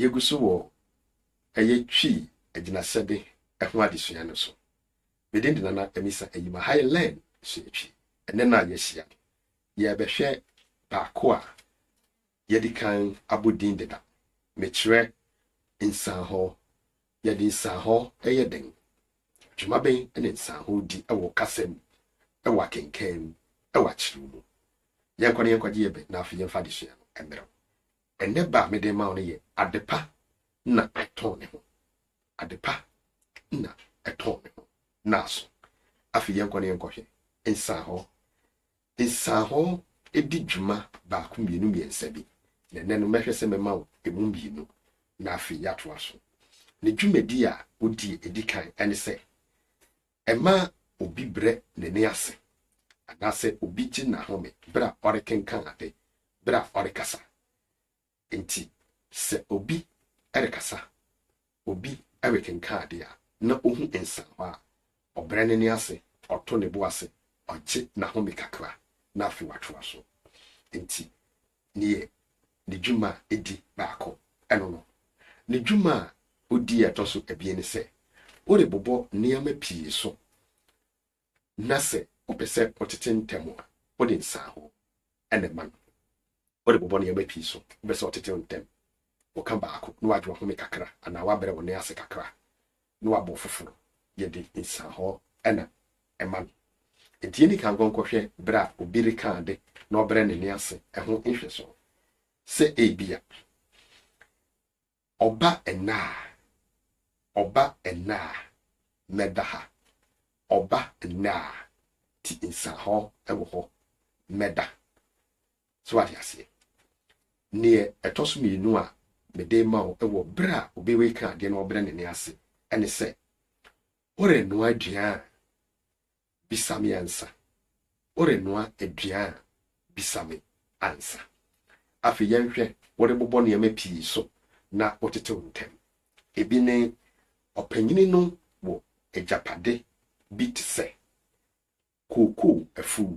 Yegu so wɔ ɛyɛ Twi agyinasɛde ho adesua no so. Me din de Nana Amisa Ayima ha yɛ Learn Sua Twi. Ɛnnɛ no a yɛahyia no, yɛrebɛhwɛ baako a yɛadi kan abɔ din deda, mekyerɛ nsanhɔ Yɛde nsanhɔ yɛ dɛn? Dwuma bɛn na nsanhɔ di wɔ wo kasa mu, wɔ akenkan mu, wɔ akyerɛw mu? Yɛnkɔ na yɛnkɔgye yɛn bɛ, na afei yɛmfa adesua no mmrɛ wo. Ɛnnɛ bɛ a mede rema wo no yɛ Adepa na Ɛtɔn Ne Ho. Adepa na Ɛtɔn Ne Ho. Naaso, afei yɛnkɔ na yɛnkɔhwɛ nsanhɔ Nsahɔ di dwuma baako mmienu mmiɛnsa bi, na ɛnnɛ no mɛhwɛ sɛ mɛma wo ɛmu mmienu, na afei yɛatoa so. Ne dwumadi a ɔdi a ɛdi kan ne sɛ, ɛma obi brɛ n'ani ase, anaasɛ obi gye n'ahome berɛ a ɔrekenkan ade, berɛ a ɔrekasa. Enti sɛ obi rekasa, obi rekenkan ade a, na ohu nsaano a, ɔbrɛ n'ani ase, ɔto ne bo ase, ɔgye n'ahome kakra, na afei watoa so. Enti neɛ ne dwuma a edi baako ɛno no. Ne dwuma a odi a ɛtɔ so abien ne sɛ, worebobɔ nneɛma pii so. na sɛ ɔpɛ sɛ ɔtete ntɛm a, wode nsaho na ɛma no. Wode bobɔ nneɛma pii so. Wopɛ sɛ ɔtetew ntɛm, woka baako na wadwo ahome kakra anaa wabrɛ wo nan ase kakra na wabɔ foforo. Yɛde nsaho na ɛma no. Enti yɛn kan nkɔnkɔhwɛ bere a obi reka ade na ɔbrɛ ne nan ase ho nhwɛso. Sɛ ebia Ɔba nna a, ɔba nna a, mɛba ha. Ɔba nna a, ti nsahɔ wɔ hɔ, mɛba. So wate aseɛ? Neɛ ɛtɔ so mmienu a mede rema wo wɔ berɛ a obi reka adeɛ na ɔbrɛ ne nan ase ne sɛ, worenoa aduan a, Bisa me ansa. Worenoa aduan a, bisa me ansa. Afei yɛnhwɛ, Worebobɔ nneɛma pii so na wotetew ntɛm. Ebi ne, Ɔpanyin no wɔ agyapade bi te sɛ, kookoo afuw,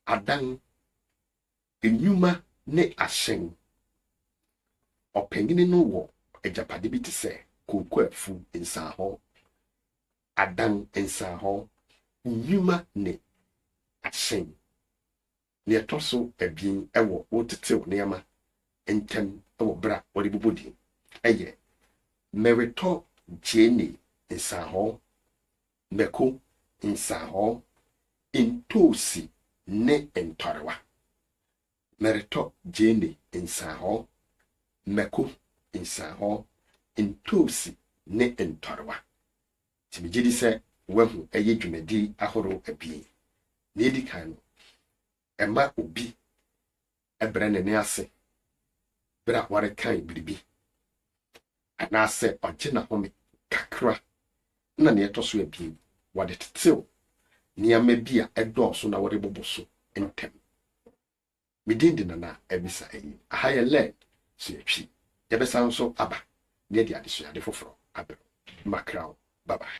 adan, nnwuma ne ahyɛn. Ɔpanyin no wɔ agyapade bi te sɛ, kookoo afuw, nsanhɔɔ, adan nsrahɔɔ, nnwuma ne ahyɛn. Nea ɛtɔ so abien wɔ wotetew nneɛma ntɛm wɔ bere a wɔde bobɔ din yɛ Meretɔ gyeene nsrahɔɔ, mako nsrahɔɔ, ntoosi ne ntɔrewa. Meretɔ gyeene, nsãhɔɔ, mako, nsãhɔɔ, ntoosi ne ntɔrewa. Nti megye di sɛ woahu ɛyɛ dwumadi ahorow abien. Nea edi kan no, ɛma obi brɛ n'ani ase bere a wɔrekan biribi. anaasɛ ɔgye n'ahome kakra, ɛnna nea ɛtɔ so abien, wɔde tetew nneɛma bi a ɛdɔɔso na wɔde bobo so ntɛm. Me din de Nana Abisa Ayim. Aha yɛ Learn, Sua Twi. Yɛbɛsan nso aba na yɛde adesuade foforo abrɛ wo. Mackerel, bye bye.